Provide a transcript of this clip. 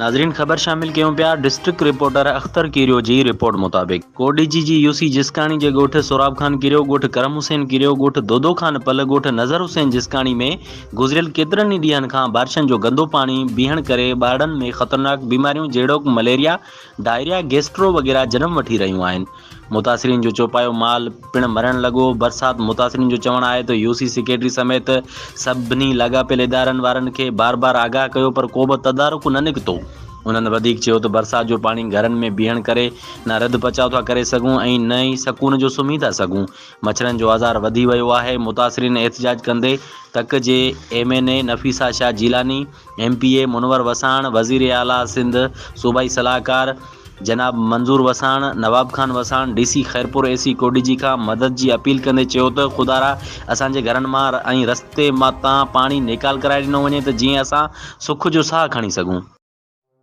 ناظرين خبر شامل ڪيون پيا ڊسٽرڪٽ رپورٽر اختر ڪيريو جي رپورٽ مطابق ڪور ڊي جي جي يو سي جسڪاڻي جي ڳوٺ سوراب خان ڪيريو ڳوٺ ڪرم حسين ڪيريو ڳوٺ دودو خان پل ڳوٺ نظر حسين جسڪاڻي ۾ گذريل ڪيترن ئي ڏينهن کان بارشن جو گندو پاڻي بيهڻ ڪري ٻارڙن ۾ خطرناڪ بيماريون جهڙوڪ مليريا ڊائريا گيسٽرو وغيره جنم وٺي رهيون آهن متاثرين جو چوپايو مال پڻ مرڻ لڳو. برسات متاثرين جو چوڻ آهي ته يو سي سيڪريٽري سميت سڀني لاڳاپيل ادارن وارن کي بار بار آگاهه ڪيو پر ڪوبه تدارڪ نه نڪتو. انهن وڌيڪ چيو ته برسات جو پاڻي گهرن ۾ بيهڻ ڪري نه رڌ پچاء ٿا ڪري سگهون ۽ نه ئي سڪون جو سمهي ٿا سگهون. مڇرن جو آزار وڌي ويو آهي. متاثرين احتجاج ڪندي تڪ جي M N A Nafisa Shah Jilani, M P A Munawar Wassan, وزير اعليٰ سنڌ، صوبائي صلاحڪار جناب Manzoor Wassan, Nawab Khan Wassan, D C Khairpur A C Kotdiji کان مدد جي اپيل ڪندي چيو ته خدارا اسان جي گهرن مان ۽ رستي تان پاڻي نيڪال ڪرائي ڏنو وڃي ته جيئن اسان سک جو ساهه کڻي سگهون.